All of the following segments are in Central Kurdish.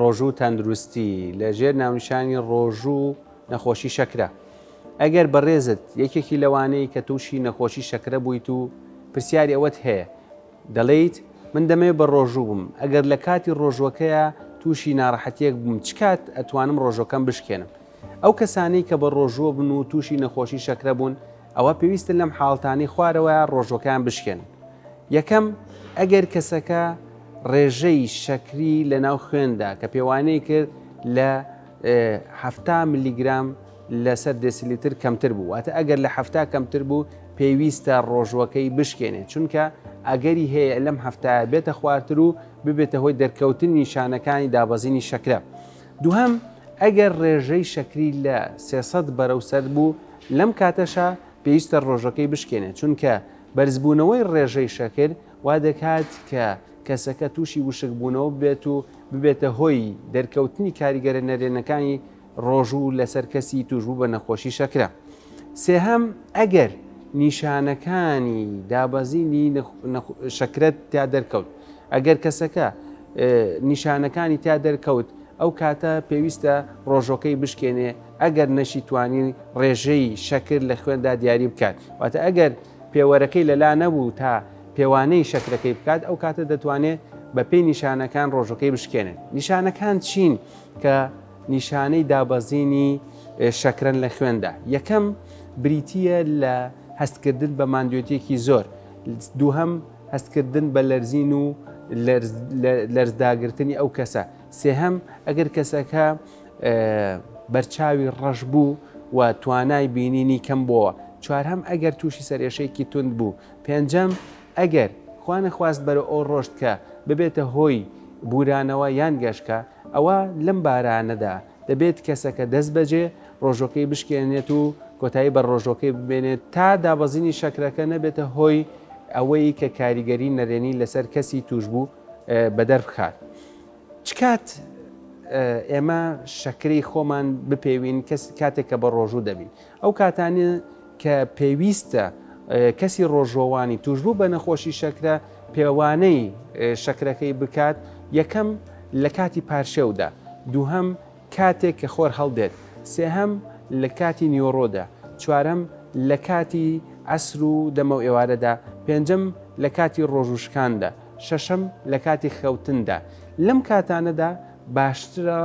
ڕۆژوو و تەندروستی، لە ژێر ناونیشانی ڕۆژوو و نەخۆشی شەکرە، ئەگەر بەڕێزت یەکێکی لەوانەی کە تووشی نەخۆشی شەکرە بوویت و پرسیاری ئەوەت هەیە، دەڵێیت من دەمەوێت بە ڕۆژوو بم، ئەگەر لە کاتی ڕۆژووەکەیا تووشی ناڕەحەتیەک بووم چ کات ئەتوانم ڕۆژووەکەم بشکێنم؟ ئەو کەسانەی کە بە ڕۆژووە بن و تووشی نەخۆشی شەکرە بوون ئەوا پێویستە لەم حاڵتانەی خوارەوە ڕۆژوەکەیان بشکێنن، یەکەم، ئەگەر کەسەکە ڕێژەی شەکری لەناو خوێندا کە پێوانەی کرد لە حەفتا ملیگرام لەسەر دێسیلیتر کەمتر بوو، واتە ئەگەر لە حەفتا کەمتر بوو پێویستە ڕۆژوەکەی بشکێنێت، چونکە ئەگەری هەیە لەم حەفتایە بێتە خوارتر و ببێتە هۆی دەرکەوتنی نیشانەکانی دابەزینی شەکرە. دووهەم، ئەگەر ڕێژەی شەکری لە سێ سەد بەرەو سەد بوو، لەم کاتەشا پێویستە ڕۆژەکەی بشکێنێت، چونکە بەرزبوونەوەی ڕێژەی شەکر وا دەکات کە کەسەکە تووشی وشکبوونەوە ببێت و ببێتە هۆی دەرکەوتنی کاریگەرە نەرێنەکانی ڕۆژوو لەسەر کەسی تووشبوو بە نەخۆشی شەکرە. سێهەم، ئەگەر نیشانەکانی دابەزینی شەکرەت تیا دەرکەوت، ئەگەر کەسەکە نیشانەکانی تیا دەرکەوت ئەو کاتە پێویستە ڕۆژۆکەی بشکێنێ ئەگەر نەشی توانی ڕێژەی شەکر لە خوێندا دیاری بکات واتە ئەگەر پێوەرەکەی لەلا نەبوو تا پێوانەی شەکرەکەی بکات ئەو کاتە دەتوانێت بەپێی نیشانەکان ڕۆژەکەی بشکێنێت نیشانەکان چین کە نیشانەی دابەزینی شەکرەن لە خوێندا یەکەم بریتە لە هەستکردن بە مادوێتێکی زۆر دووهم هەستکردن بە لەرزین و لەرزداگرتنی ئەو کەسە. سێهەم، ئەگەر کەسەکە بەرچاوی ڕەش بوو و توانای بینینی کەم بۆوە. چوارهەم، ئەگەر تووشی سەرێشەیەکی توند بوو. پێنجەم، ئەگەر خوانەخواست بەرەو ئەو ڕۆشت کە ببێتە هۆی بورانەوە یان گەشکە، ئەوا لەم بارانەدا دەبێت کەسەکە دەستبەجێ ڕۆژۆکەی بشکێنێت و کۆتایی بە ڕۆژۆکەی ببێنێت تا دابەزینی شەکرەکە نەبێتە هۆی ئەوەی کە کاریگەری نەرێنی لەسەر کەسی تووشبوو بەدەربخات. چ کات ئێمە شەکرەی خۆمان بپێوین کاتێک کە بەڕۆژوو دەبین؟ ئەو کاتانە کە پێویستە کەسی ڕۆژووەوانی تووشبوو بە نەخۆشی شەکرە پێوانەی شەکرەکەی بکات، یەکەم لە کاتی پارشێودا، دووهەم کاتێک کە خۆر هەڵدێت، سێهەم لە کاتی نیوەڕۆدا، چوارەم لە کاتی عەسر و دەمەوئێوارەدا، پێنجەم لە کاتی ڕۆژووشکاندا، شەشەم لە کاتی خەوتندا. لەم کاتانەدا باشترە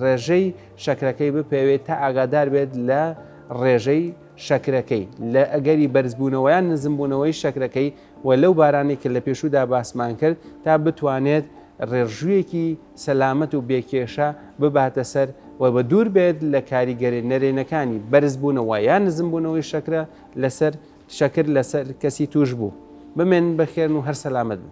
ڕێژەی شەکرەکەی بپێوێت تا ئاگادار بێت لە ڕێژەی شەکرەکەی لە ئەگەری بەرزبوونەوەیان نزمبوونەوەی شەکرەکەی و لەو بارانەی کە لە پێشوودا باسمان کرد تا بتوانێت ڕێڕژوویەکی سەلامەت و بێکێشە بباتە سەر و بە دوور بێت لە کاریگەری نەرێنەکانی بەرزبوونەوە یان نزمبوونەوەی شەکرە لەسەر شەکر لەسەر کەسی تووشبوو. بمێنن بەخێرن و هەر سەلامەت بن.